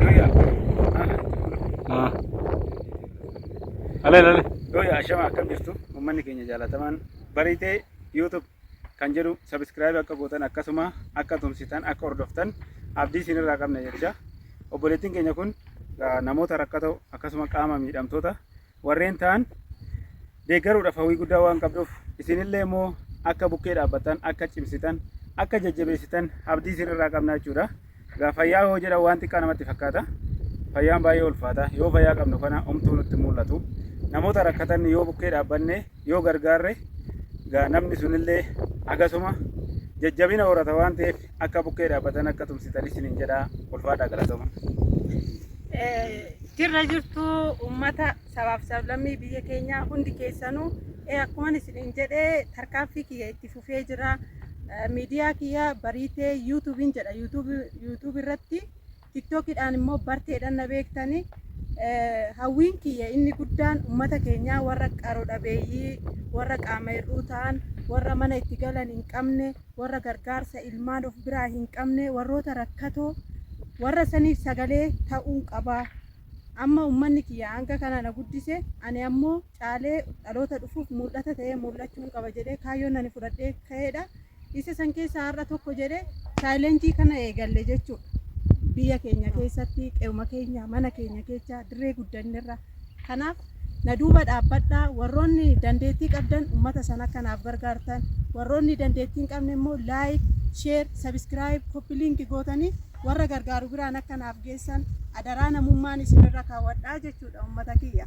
Doya. Ah. Aleen aleen. Doya ashama akkam jirtu uummanni keenya jaalatamaan bariitee YouTube kan jedhu subscribe akka gootan akkasuma akka tumsitan akka hordoftan abdii isin irraa qabna jecha obboleettiin keenya kun ah, namoota rakkatoo akkasuma qaama miidhamtoota warreen ta'an deeggaruudhaaf hawwii guddaa waan qabduuf isinillee immoo akka bukkee dhaabbattan akka cimsitan akka jajjabeessitan abdii isinirraa qabna jechuudha. Egaa fayyaa yoo jedhan waan xiqqaa namatti fakkaata. Fayyaan baay'ee ulfaata. Yoo fayyaa qabnu kana homtuu nutti mul'atu. Namoota rakkatan yoo bukkee dhaabbanne yoo gargaarre egaa namni sunillee akkasuma jajjabina horata waan ta'eef akka bukkee dhaabbatan akka tumsitan isiniin jedha ulfaadhaa galatoma. Jirra jirtu uummata sabaaf sablammii biyya keenyaa hundi keessanuu akkuma isiniin jedhe tarkaanfii kiyya itti fufee jira. Miidiyaa kiyya bariitee yuutuubiin jedha yuutuubii irratti tiktookiidhaan immoo barteedhaan na beektanii hawwiin kiyya inni guddaan uummata keenyaa warra qaroo dhabeeyyii warra qaama hir'uu ta'an warra mana itti galan hin qabne warra gargaarsa ilmaan of biraa hin qabne, warroota rakkatoo, warra saniif sagalee ta'uun qaba. Amma ummanni kiyya hanga kana na guddise, ani ammoo caalee dhaloota dhufuuf mul'ata ta'ee mul'achuun qaba jedhee kaayyoon ani fudhadhee ka'eedha. Isa san keessaa har'a tokko jedhee chaalenjii kana eegalle jechuudha. Biyya keenya keessatti, qe'uma keenya, mana keenya keessa, dirree guddannerra Kanaaf na duuba dhaabbadhaa, warroonni dandeettii qabdan ummata sana akka naaf gargaartan, warroonni dandeettii hin qabne immoo like, share, subscribe, copy link gootanii warra gargaaru biraan akka naaf geessan adaraa namummaan isinirra kaawwadha jechuudha ummata kiyya.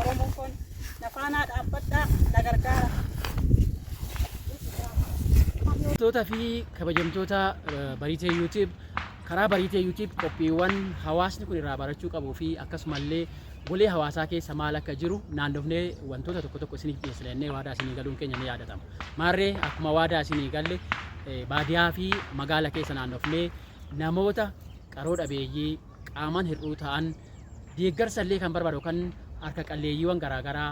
Oromoo koon na faanaa dhaabbadhaa na gargaara. Kabajamtoota fi kabajamtoota eh, Bariitee YouTube karaa Bariitee YouTube qophiiwwan hawaasni kun irraa barachuu qabuu fi akkasumallee golee hawaasaa keessa maal akka jiru naannofnee wantoota tokko tokko isiniif dhiyeessina jennee waadaa isinii galuun keenya ni yaadatama. Maarree akkuma waadaa isinii galle eh, baadiyaa fi magaala keessa naannofnee namoota qaroo dhabeeyyii qaamaan hir'uu ta'an deeggarsa illee kan barbaadu kan harka qalleeyyiiwwan garaagaraa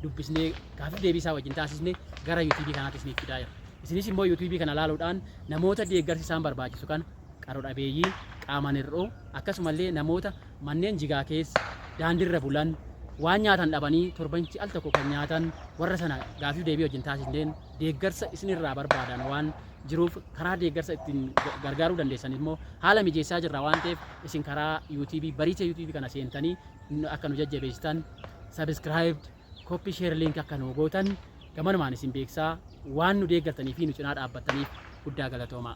dubbisnee gaafii deebii isaa wajjin taasisne gara yuutuubii kanaatti isiniif fidaa jira. Isinis immoo yuutuubii kana laaluudhaan namoota deeggarsi isaan barbaachisu kan qaro dhabeeyyii, qaamaan hir'uu akkasumallee namoota manneen jigaa keessa daandiirra bulan waan nyaatan dhabanii torbanitti al tokko kan nyaatan warra sana gaafii deebii wajjin taasisneen deeggarsa isinirraa barbaadaan waan jiruuf karaa deeggarsa ittiin gargaaruu dandeessan immoo haala mijeessaa jirra waan ta'eef isin karaa yuutiibii bariicha yuutiibii kana seentanii akka nu jajjabeessitan sabiskiraayib koppii sheer liink akka nu gootan gamanumaan isin beeksaa waan nu deeggartanii fi nu cinaa dhaabbattaniif guddaa galatoomaa.